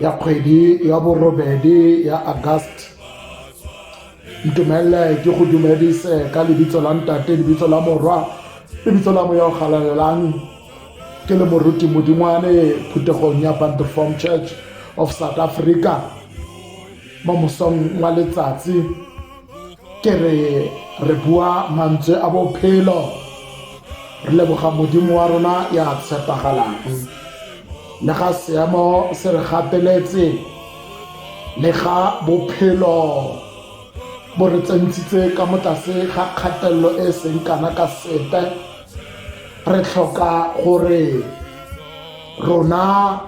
ya kgwedi ya borobedi ya agast ntumelele ke go dumedise ka lebitso la ntate lebitso la morwa lebitso la moya o galalelang ke le moruti modingwane phuthegong ya bandeform church of south africa mo mosong wa letsatsi ke re re bua mantswe a bophelo re leboga modimo wa rona ya tshepagalang le ga seemo se re gateletse le ga bophelo bo re tsentshitse ka mo tlase ga kgatelelo e seng kana ka sepe re tlhoka gore rona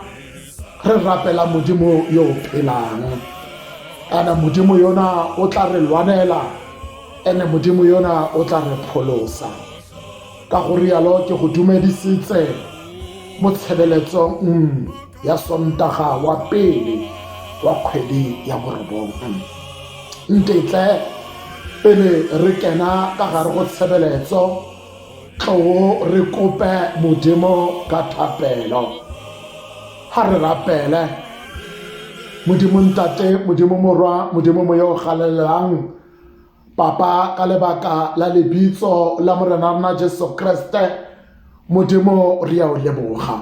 re rapela modimo yo o phelang kana modimo yona o tla re lwanela ene modimo yona o tla re pholosa ka go rialo ke go dumedisitse mo tshebeletsong mm, ya sontaga wa pele wa kgwedi ya borobong mm. ntetle pele re kena ka gare go tshebeletso tloo re kope modimo ka thapelo ga re rapele modimo ntate modimo morwa modimo moya o galelelang papa ka lebaka la lebitso la morena rona jesu kreste modimo re ya o leboga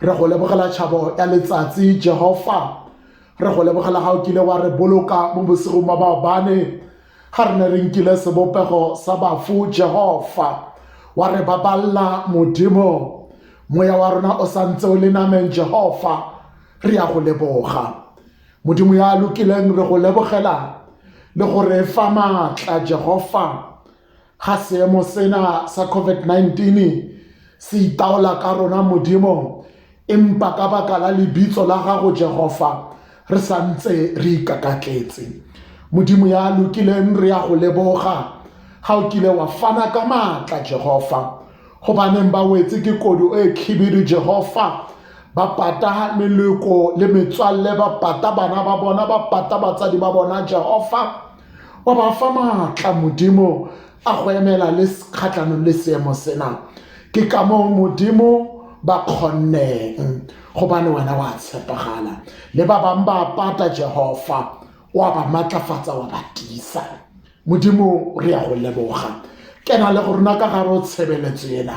re go lebogela tšhabo ya letsatsi jehofa re go lebogela ga o kile wa re boloka mo bosigong ba baobane Ga re ne re nkile sebopego sa bafu, Jehofa wa re baballa Modimo. Moya wa rona o sa ntse o le nameng, Jehofa, re ya go leboga. Modimo ya lokileng, re go lebogela le go re fa maatla, Jehofa. Ga seemo sena sa COVID-19 se itaola ka rona Modimo, empa ka baka la lebitso la gago Jehofa re sa ntse re ikakatletse. Modimo ya lokileng re ya go leboga ga o kile wa fana ka maatla Jehofa go baneng ba wetse ke kodu e khibidu Jehofa ba pata meleko le metswalle ba pata bana ba bona ba pata batsadi ba bona Jehofa wa ba fa maatla modimo a go emela le kgatlhanong le seemo sena ke ka moo modimo ba kgonneng gobane wena wa tshepagala le ba bangwe ba pata jehofa wa ba maatlafatsa wa ba tisa modimo re ya go leboga kena le go rona ka gare o tshebeletso ena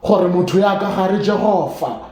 gore motho ya ka gare jehofa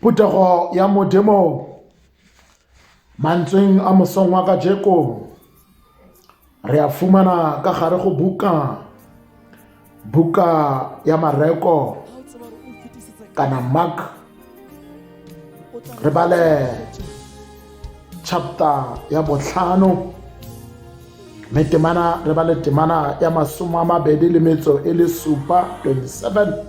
Phuthego ya Modimo mantsweng a mosong wa kajeko re a fumana ka gare go buka buka ya mareko kana mark re bale chapter ya botlhano mme temana re ba le temana ya masome a mabedi le metso e le supa 27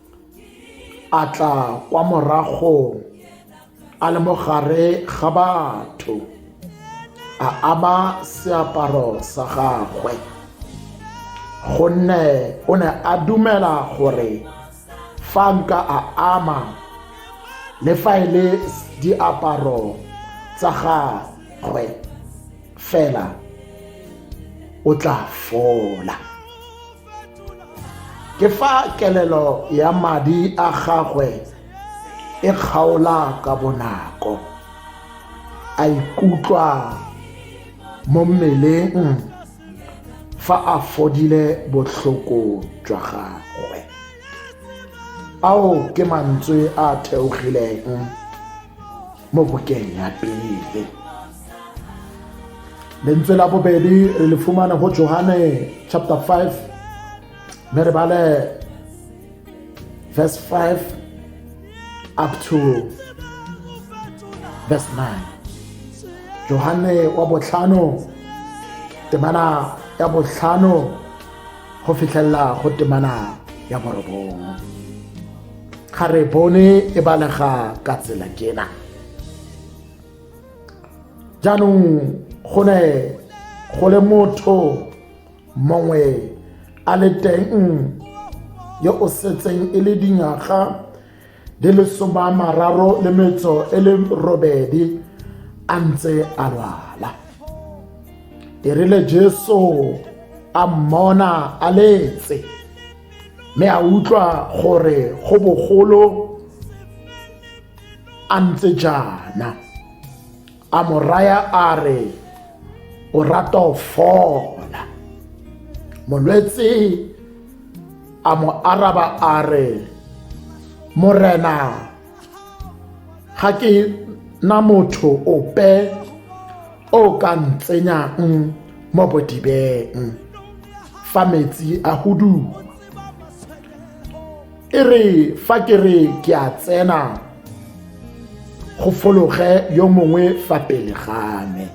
a tla kwa moragong a le mo gare ga batho a aba seaparo sa gagwe gonne o ne a dumela gore fa nka a ama le fa e le diaparo tsa gagwe fela o tla fola ke fa kelelo ya madi a gagwe e kgaola ka bonako a ikutlwa mo mmeleng fa a fodile botlhoko jwa gagwe ao ke mantswe a theogileng mo bokeng ya pele lentswe la bobedi re le fumana go johane chapter 5 mme re bale verse 5 up to verse 9 johane wa botlhano temana ya botlhano go fitlhelela go temana ya borobongwe ga re bone e balega ka tsela kena jaanong go ne go le motho mongwe a le teng yo o setseng e le dingwaga di le soma mararo le metso e le robedi a ntse a lwala e rile jesu a mmona a letse mme a utlwa gore go bogolo a ntse jaana a mo raya a re o rata o fola molwetse a mo araba a re morena ga ke na motho ope o ka ntsenyang mo bodibeng fa metsi a huduwa e re fa ke re ke a tsena go fologe yo mongwe fa pele ga me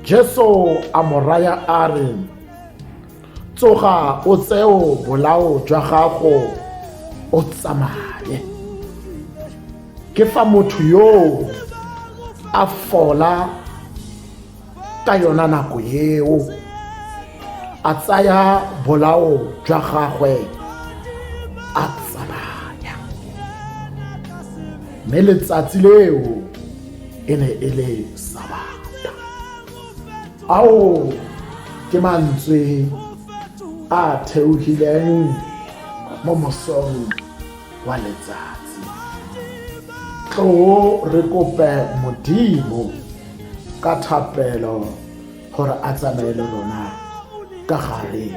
Jesu a mo raya a re, Tsoga o tseo bolao jwa gago o tsamaye. Ke fa motho yoo a fola ka yona nako eo a tsaya bolao jwa gagwe a tsamaya mme letsatsi leo e ne e le sabata ao ke mantswe a theogileng mo mosong wa letsatsi tloo re kope modimo ka thapelo gore a tsamaye le rona ka gare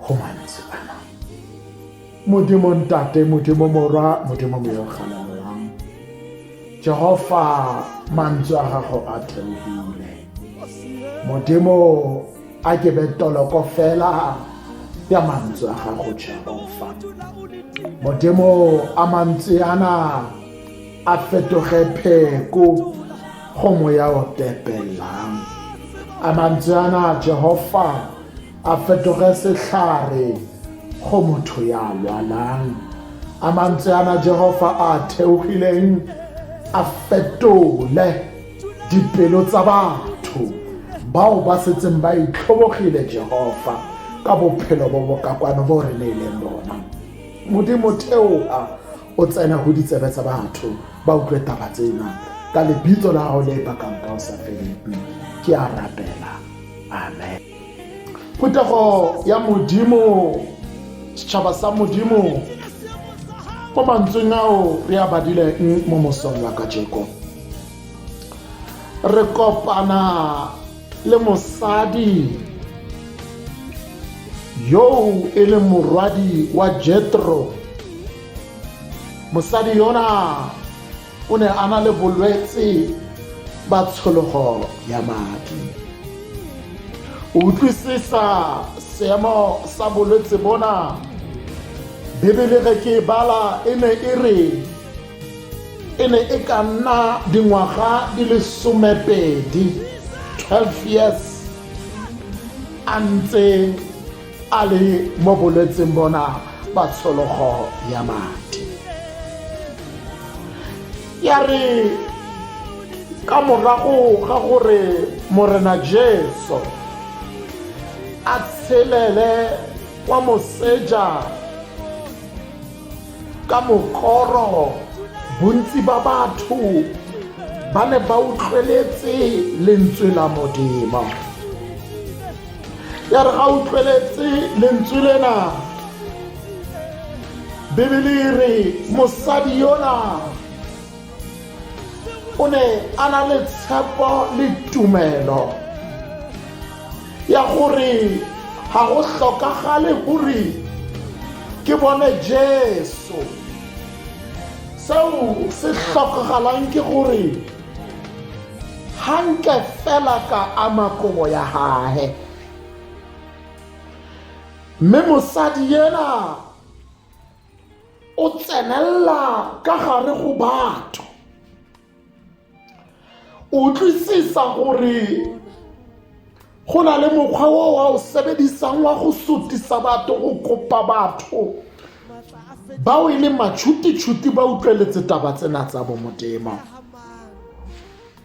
go mantswe ana Modimo Ntate, Modimo Morwa, Modimo Moyogalelwang. Jehova mantswe a gago a theogile. Modimo a ke be toloko fela ya mantswe a gago Jehova. Modimo a mantswe ana a fetoge pheko go moya o tepelelang. A mantswe ana Jehova a fetoge setlhare go motho ya lwalang a mantswe ana jehova a theogileng a fetole dipelo tsa batho bao ba setseng ba itlhobogile jehova ka bophelo bo bokakwano bo re neileng bona modimo theoa o tsene go ditsebe tsa batho ba utlwe taba tsena ka lebitso la gago le bakang ka o sa feleng ke a rapela amen phuthego ya modimo setšhaba sa modimo mo mantsweng ao re a badileng mo mosong wa ka jeko re kopana le mosadi yoo e leng morwadi wa jetro mosadi yona o ne a na le bolwetse ba tshologo ya madi o utlwisisa seemo sa bolwetse bona bebele ge ke e bala e ne e re e ne e ka nna dingwaga di le somepedi 12 years a ntse a le mo bolwetseng bona ba tshologo ya madi ya re ka morago ga gore morena jesu a tshelele kwa moseja ka mokoro bontsi ba batho ba ne ba utlweletse lentswe la modimo ya re ga utlweletse lentswe lena bibele e re mosadi yona o ne a na le tshepo le tumelo ya gore ga go tlhokagale gore ke bone jesu seo se tlhokagalang ke gore ga nke fela ka ama kobo ya gage mme mosadi yena o tsenelela ka gare go batho utlwisisa gore go na le mokgwa o wa o sebedisang wa go sotisa batho go kopa batho bao e leng matšhuti-tšhuti ba utlweletse taba tsena tsa bomodimo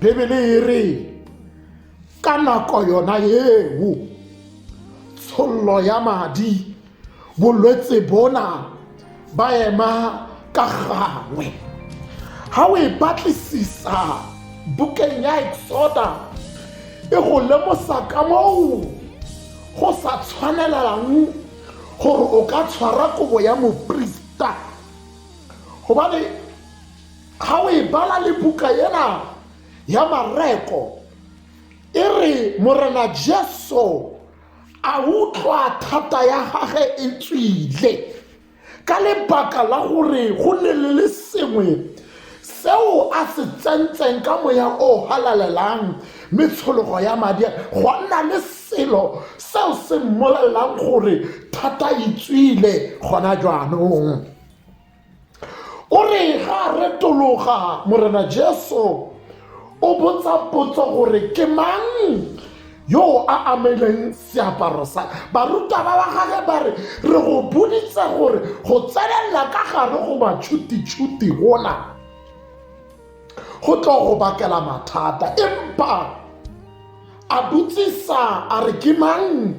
bibele e re ka nako yona eo tshollo ya madi bolwetse bona ba ema ka gangwe ga o e batlisisa bukeng ya exoda e go lemosa ka moo go sa tshwanelang gore o ka tshwara kobo ya moprista gobane Ga o e bala le buka ena ya Mareko, e re Morena Jesu a utlwa thata ya gage e tswile ka lebaka la gore go ne le le sengwe seo a se tsentseng ka moya o halalelang metshologo ya madi go nna le selo seo se mmolelelang gore thata e tswile gona jaanong o re ga a retologa morena jesu o botsa potso gore ke mang yo a ameleng seaparo sa baruta ba ba gage ba re re go boditse gore go tsenelela ka gare go matšhutitšhuti gona go tlo go bakela mathata empa a botsisa a re ke mang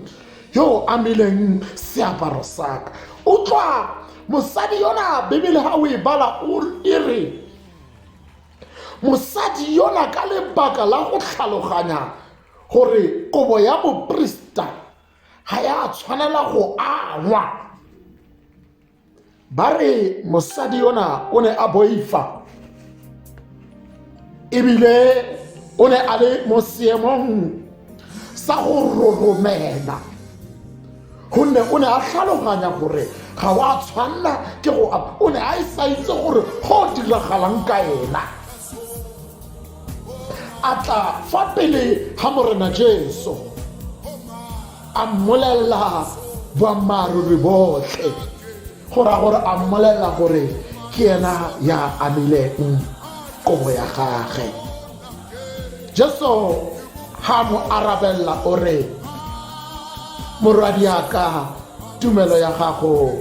yo o amileng seaparo saka utlwa mosadi yona bibele ga o e bala e re mosadi yona ka lebaka la go tlhaloganya gore kobo ya boprista ga ya tshwanela go angwa ba re mosadi yona o ne a boifa ebile o ne a le mo seemong sa go roromela gonne o ne a tlhaloganya gore ga wa tshwanela ke go o ne a e sa itse gore go diragalang ka ena a tla fa pele ga morena jesu A mmolelela boammaaruri botlhe, go raya gore a mmolelela gore ke ena ya amileng kobo ya gage. Jesu ga a mo arabelela o re, Morwadiaka, tumelo ya gago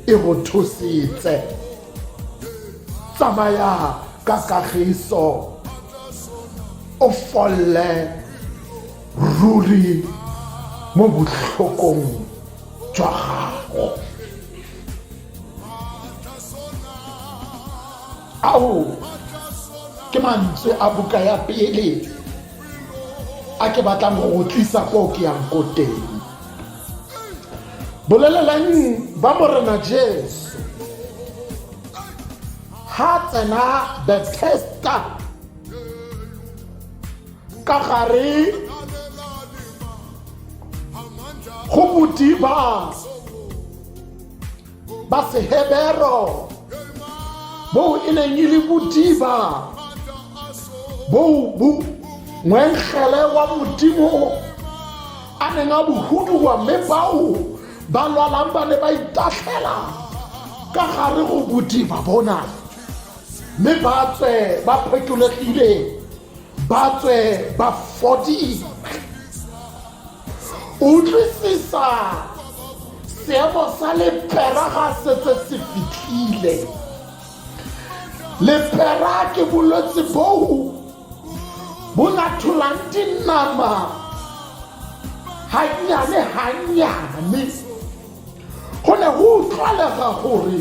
e go thusitse. Tsamaya ka kagiso, o folle. ruri mo botlhokong jwa gago ao ke mantswe a buka ya pele a ke batlang go go tlisa ko ke yang ko teng bolelelang ba morena jesu ha tsena bethesda ka gare go modiba ba sehebero boo e neng e le modiba boo bo ngwengele wa modimo a neng a bohuduwa mme bao ba lwalang ba ne ba itatlhela ka gare go bodiba bona mme ba tswe ba phetologile ba tswe ba fodile utlwisisa seemo sa lepera ga setse se fitlhile lepera ke bolwetse boo bo latholang dinama gannyane gannyane go ne go utlwalega gore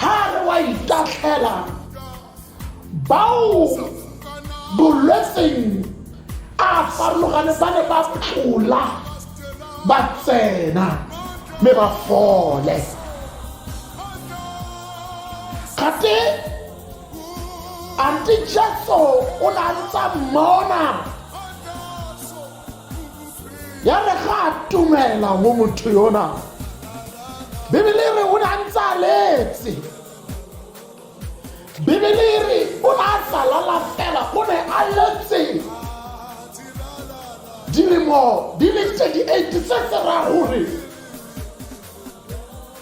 ga re wa itatlhela bao bolwetseng a farologane ba ne ba tlola ba tsena mme ba fole gate ante jesu o ne a ntsa mmona ya re ga a tumela mo motho yona bibele e re o ne a ntse a letse bibele e re o ne a tsalala fela o ne a letse dilemo di le 38 tse tse ra gore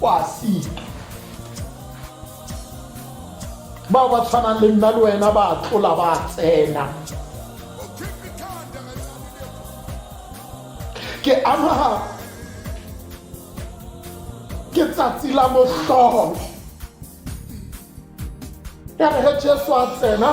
kwa si bao ba tshwanang le nna le wena ba tlola ba tsena ke ama ke tsatsi la motlholo ya re ge jesu a tsena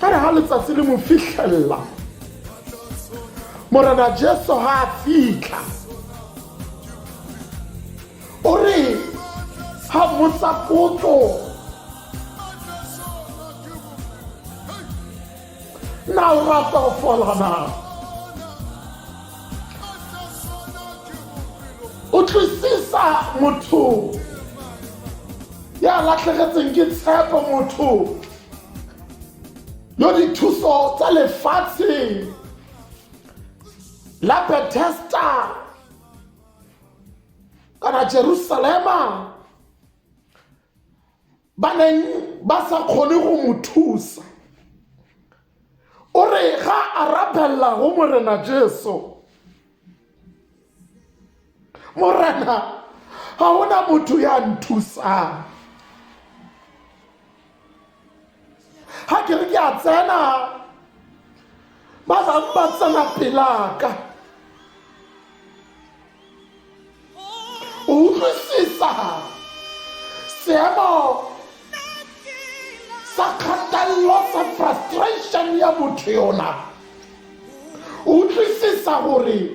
ka re ga letsatsi le mo fitlhelela morena jesu ga a fitlha o re ga motsa potso utlwisisa motho ya latlhegetseng ke tshepo motho yo dithuso tsa lefatshe la bethesta kana jerusalema ba neng ba sa kgone go mo thusa o re ga a rapella go morena jesu morena ga ona motho ya nthusang ga ke re ke a tsena ba bangwe ba tsena pelaka utlwisisa seemo sa kgatelelo sa frustration ya motho yona utlwisisa gore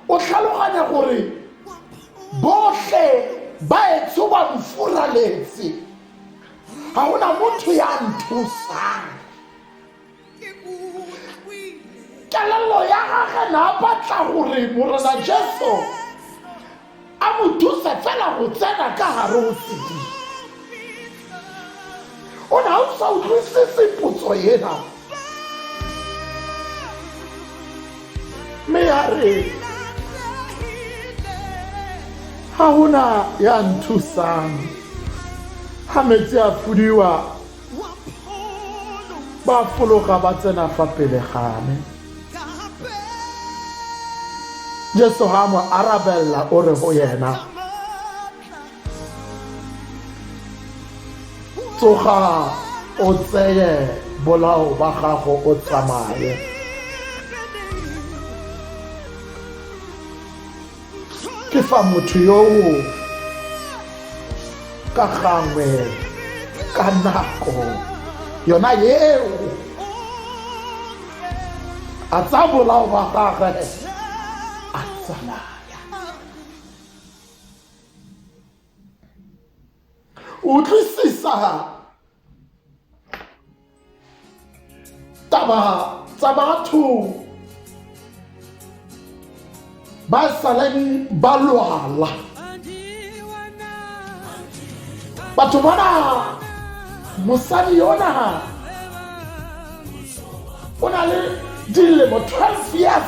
o tlhaloganya gore botlhe ba etso ba mfuraletse ga gona motho ya nthusang kelello ya gage na batla gore morena jesu a mo thuse fela go tsena ka gare o tsedi o ne a o sa utlwisise potso ena mme ya re ga gona ya nthusang ga metsi a fudiwa ba fologa ba tsena fa pele ga me jesu ga mo arabella o re go yena tsoga o tseye bolao ba gago o tsamaye ke fa motho yo ka gangwe ka nako yona eo a tsa bolao ba gagwe a tsamaya utlwisisa taba tsa batho ba saleng ba lwala batho bana mosadi yona o na le dilemo 12 years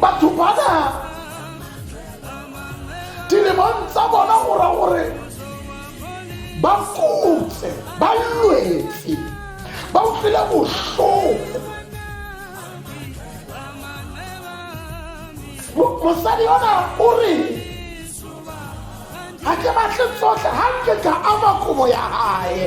batho bana dilemong tsa bona go ra gore ba kutse ba lwetse ba utlwile bohloko mosadi yona o re ga ke batle tsotlhe ga nke ka ama kobo ya gae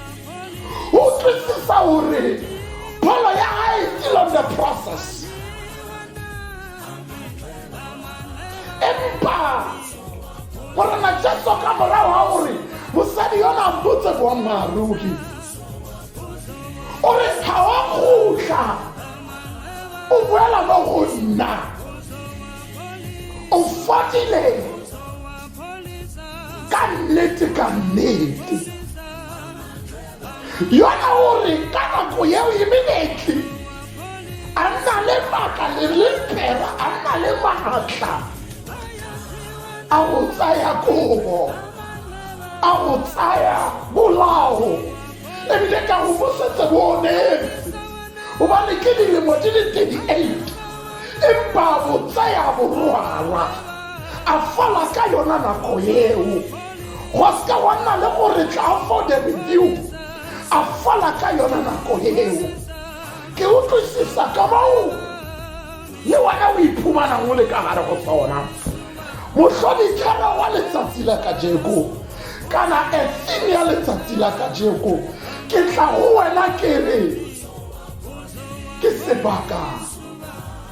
o tlisisa gore pholo ya gae e still on the process empa gore matšetso ka morago ga gore mosadi yona a mpotse boammaaruri o re ga wa kgotla o boela mo go nna o fodile ka nnete ka nnete yona o re ka nako eo e menetli a nna le maaka le lempera a nna le maatla a go tsaya kobo a go tsaya bolao ebile ka go bosetse bo o neetse gobane ke dilemo di le 38 empa bo tsaya borwalwa a fala ka yona nako eo go seka wa nna le gore tla for the review a fala ka yona nako eo ke utlwisisa ka moo le wena o iphumanang o le ka gare go sona mohlodithera wa letsatsi la kajeko kana efim ya letsatsi la kajeko ke tla go wena ke re ke sebaka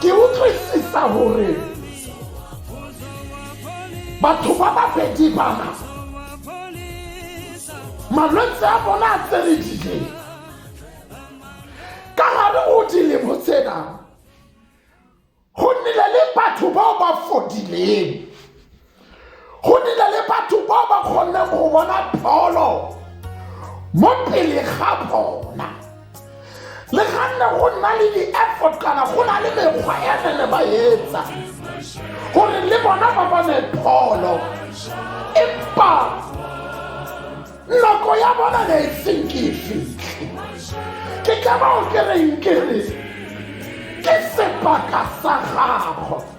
ke utlwisisa gore batho ba babedi bana malwetse a bona a tseredile ka gare o dilemo tsena go nnile le batho bao ba fodileng go nile le batho ba ba kgonne go bona pholo mo pele ga bona le ganne go nna le di-effort kana go na le mekgwa e re le ba etsa gore le bona ba bone pholo empa nako ya bona ne e seng ke e fitlhe ke ka bao ke reng ke re ke sebaka sa gago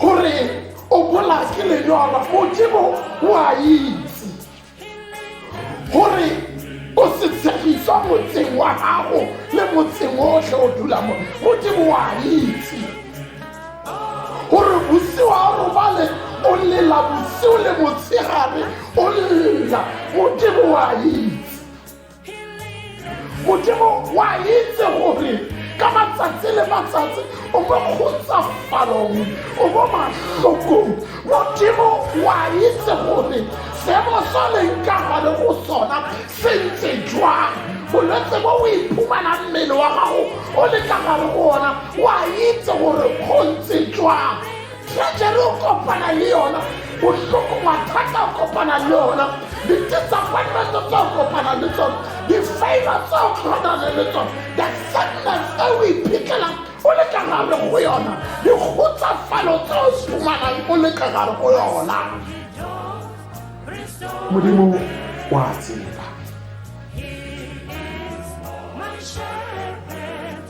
gore o bola ke lenyora modimo o a itse gore o se tshegiswa motseng wa gago le motseng otlhe o dula mo modimo o a itse gore bosigo a robale o lela bosigo le motshegare o lela modimo o a itse modimo wa itse gore ka matsatsi le matsatsi o mo kgotsafalong o mo matlhokong modimo wa itse gore seemo sa leng ka gale go sona se ntse jwang bolwetse bo o iphumana mmele wa gago o le ka gale go ona wa itse gore go ntse jwang Tragedy o kopana le yona bohloko mathata o kopana le yona di-disappointment tse o kopana le tsone di-favor tse o tlhanane le tsone the sadness e o iphitlhelang o le ka gare go yona dikgotsafalo tse o fumanang o le ka gare go yona modimo wa tseba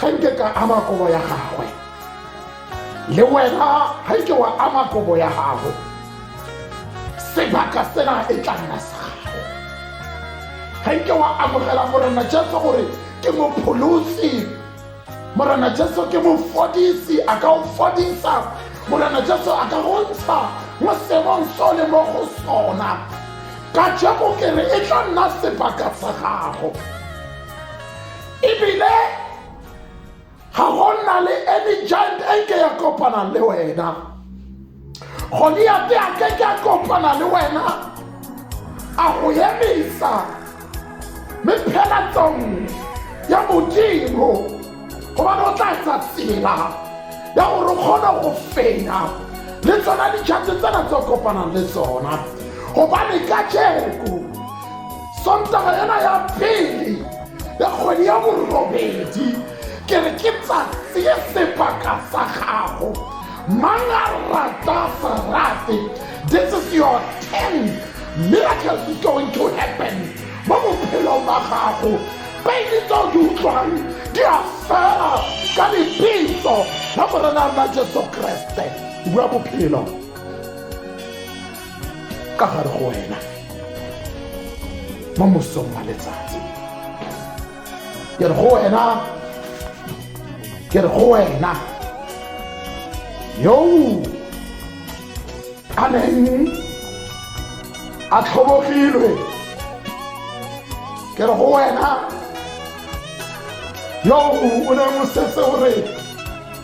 ga nke ka ama kobo ya gagwe le wena ga ike wa ama kobo ya gago sebaka sena e tla nna sa gago ga ike wa amogela morena jesu gore ke mopholosi morena jesu ke mofodisi a ka o fodisa morena jesu a ka go ntsha mo seemong so le mo go sona ka jeko kere e tla nna sebaka sa gago ebile ga go nna le any giant e ke ya kopanang le wena goliate a ke ke a kopana le wena a go emisa mme phela tsong ya modimo gobane o tla etsa tsela ya gore o kgone go fenya le tsona dijate tsena tse kopanang le tsona gobane ka jeko sontaga ena ya pele ya kgwedi ya borobedi ke re ke tsatsi sebaka sa gago mang a rata serate this is your ten miracle is going to happen mo bophelong ba gago pele tse di utlwang di a fela ka lebitso la morena la jesu kreste bua bophelo ka gare go wena mo mosong wa letsatsi ke re go wena ke re go wena yoo a neng a tlhobogilwe ke re go wena yoo o ne o setse o re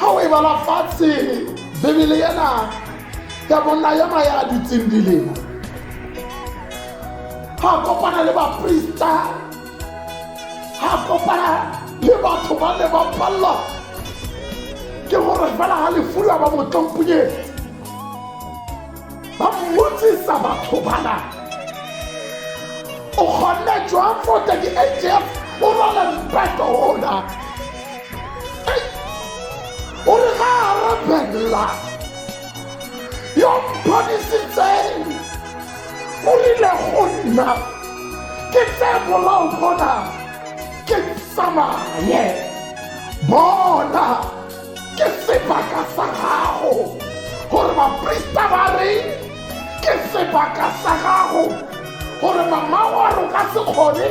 ga o e bala fatshe bebele ena ya bonna ya maya a dutseng dilema ga kopana le baprista ga kopana le batho ba ne ba palelwa ke gore fela ga lefula ba motlompunyeng ba mmotsisa batho bana o kgonne jwang fota ke atf o rwala mpeto ona o re ga a rabella yo mphodisitseng o rile go nna ke tse bolao bona ke tsamaye bona ke sebaka sa gago gore baprista ba reng ke sebaka sa gago gore mama wa re o ka se kgone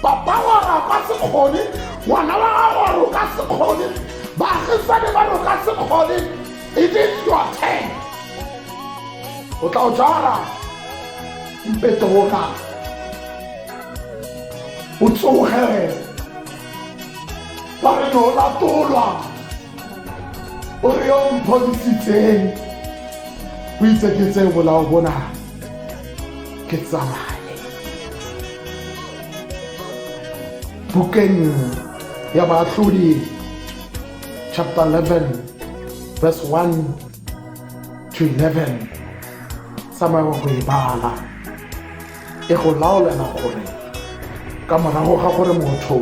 papa wa re o ka se kgone ngwana wa gago wa re o ka se kgone baagisane ba re o ka se kgone it is your ten o tla o jara mpetoga o tsoge ba re ne o latolwa o re yo mphodisitseng o itse ke tseye bolao bona ke tsamaye bukeng ya baatlhodi chapter 11 verse 1 to 11 tsamaya go e bala e go laolana gore ka morago ga gore motho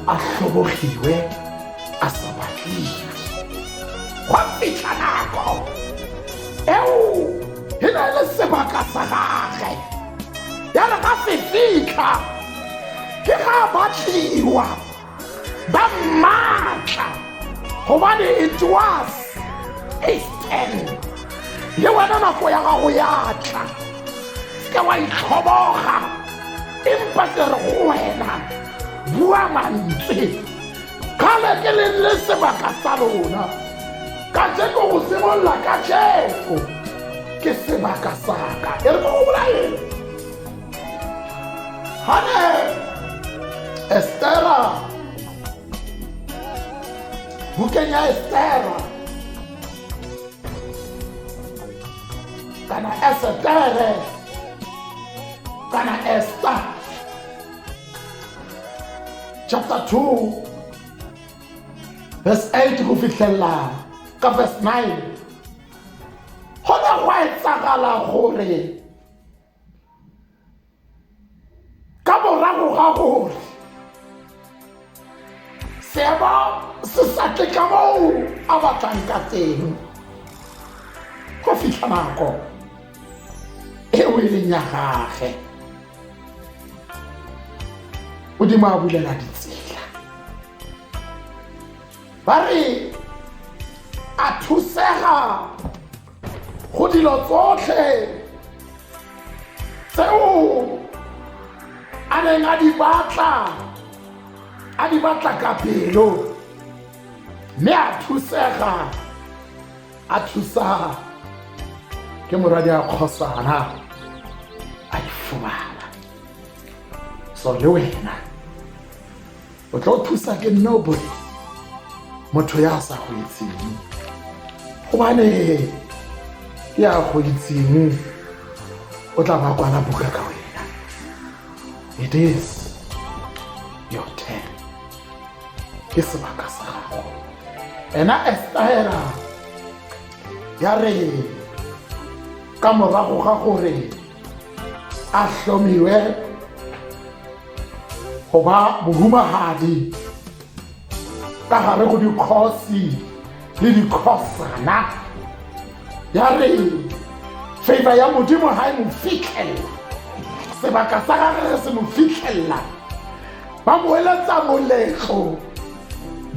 a tlhobogiwe a sa batliwe gwa fitlha nako eo e na le sebaka sa gage ya re ga se fitlha ke ga batliwa ba maatla gobane it was his ten le wena nako ya gago ya tla ke wa itlhoboga empa ke re go wena bua mantswe kgale ke leng le sebaka sa lona ka jeko go simolola ka jeko ke sebaka saka e re ko go bolaeng Hane! Estera! Bukeng ya Estera! Kana Esetere! Kana Esther! Chapter 2 verse 8 go fitlhelela ka verse 9 go ne go etsagala gore ka morago ga gore seemo se sa tle ka moo a batlang ka teng go fitlha nako eo e leng ya gage modimo a bulela ditsela ba re a thusega go dilo tsotlhe tseo a neng a di batla a di batla ka pelo mme a thusega a thusa ke moradi a kgosana a ifumana so le wena o tlo thusa ke nne o bone motho ya sa go itseng gobane ke ya go itseng o tla ba kwana buka ka wena it is your turn ke sebaka sa gago ena estaela ya re ka morago ga gore a hlomiwe go ba mohumagadi ka gare go dikgosi le dikhosana ya re favor ya modimo ga e mo fitlhelela sebaka sa gage re se mo fitlhelela ba mo eletsa moletlo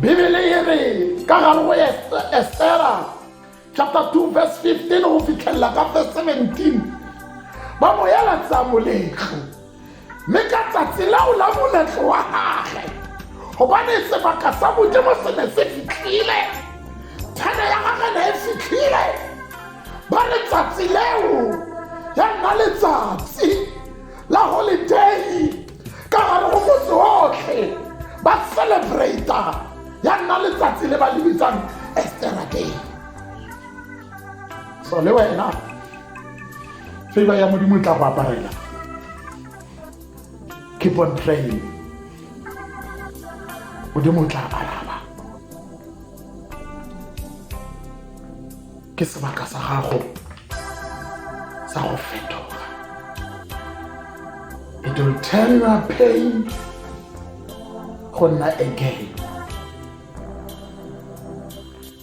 bibele e re ka gare go esera chapter 2 verse 15 go fitlhelela ka verse 17 ba mo ela tsa moletlo mme ka tsatsi leo la moletlo wa gage gobane sebaka sa modimo se ne se fitlhile thene ya gage ne e fitlhile ba re tsatsi leo ya nna letsatsi la holiday ka gare go motse otlhe ba celebrata ya nna letsatsi le ba le bitsang estera day so le wena favor ya modimo e tla go aparela keep on praying modimo o tla aparela ke sebaka sa gago sa go fetoga it will turn your pain go nna a gain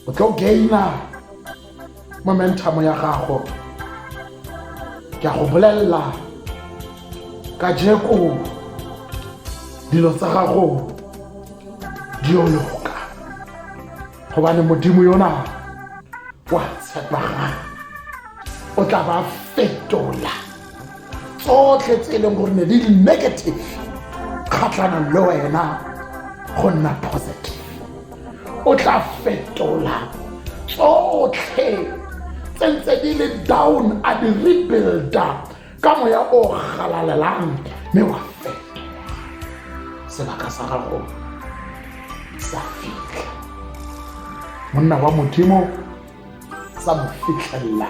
o tlo gaina momentum ya gago ke a go bolelela ka jeko dilo tsa gago di yo loka gobane modimo yona wa tshepagala o tla ba fetola tsotlhe tse e leng gore ne di le negative kgatlhanong le wena go nna positive o tla fetola tsotlhe tse ntse di le down a di rebuilda ka moya o galalelang mme wa fetoga sebaka sa gago sa fitlha monna wa modimo sa mo fitlhelela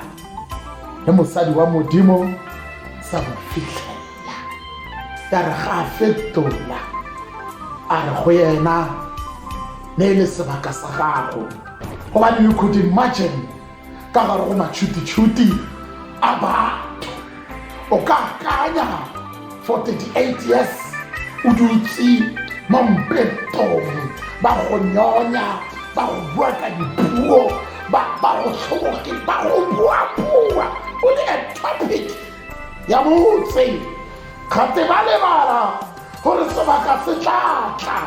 le mosadi wa modimo sa mo fitlhelela ya re ga a fetola a re go yena ne e le sebaka sa gago gobane you could imagine ka gare go matšhutitšhuti a batho o ka akanya for 38 years o dutse mo mpetong ba go nyonya ba go bua ka dipuo ba go tlhoboge ba go buabua o le a topic ya motse gate ba lebala gore sebaka se tla tla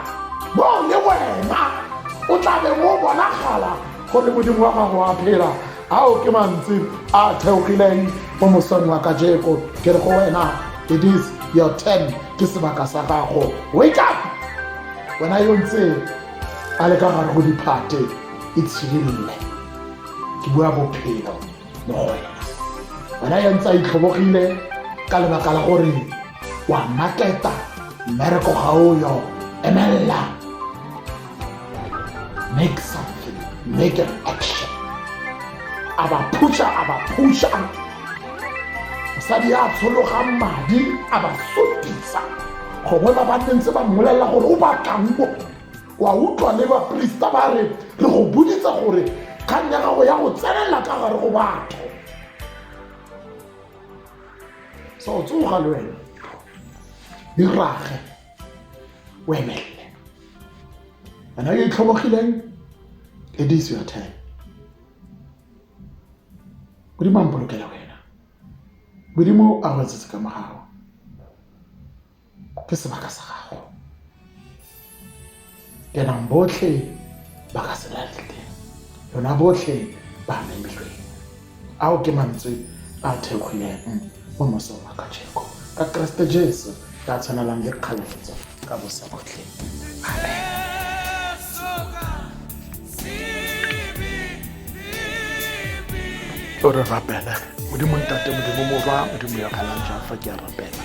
mo le wena o tla be mo bonagala gore modimo wa gago a phela ao ke mantsi a theogileng mo mosong wa kajeko ke re go wena it is your ten ke sebaka sa gago wake up wena yo ntse a le ka gare go diphate e tshidilele ke bua bophelo mogole wena ya ntse a itlhobogile ka lebaka la gore wa maketa mmereko ga o yo emelela make something make an action a ba phusha a ba phusha mosadi ya tshologang madi a ba sotisa gongwe ba ba ntse ba mmolelela gore o batlang mo wa utlwa le baporista ba re re go boditsa gore kgang ya gago ya go tsenelela ka gare go batho sa o tsoga le wena irage o emelele wena yo itlhobogileng it is your time modimo a mpolokela wena modimo a go etsetse ka mogago ke sebaka sa gago kenang botlhe ba ka se latlhe lona botlhe ba memilweng ao ke mantswe a thekgwileng mo mosong wa kajeko ka keresete jesu ka tshwanelang le kgaletso ka bosa botlhe amen o re rapela modimo ntate modimo morwa modimo ya kgalang jang fa ke a rapela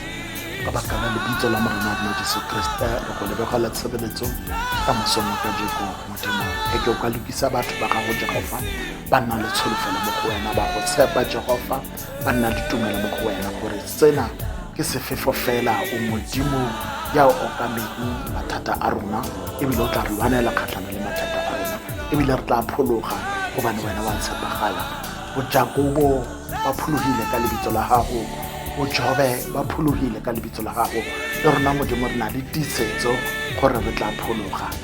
ka baka la lebitso la morena wa rona jesu kriste re go lebegela tshebeletso ka mosomo ka jeko modimo e ke o ka lokisa batho ba gago jehofa ba nna le tsholofelo mo go wena ba go tshepa jehofa ba nna le tumelo mo go wena gore sena ke sefefo fela o modimo ya o okameng mathata a rona ebile o tla re lwanela kgatlhano le mathata a rona ebile re tla phologa gobane wena wa tshepagala bojakobo ba phologile ka lebitso la gago bojobe ba phologile ka lebitso la gago le rona modimo re na le tiisetso gore re tla phologa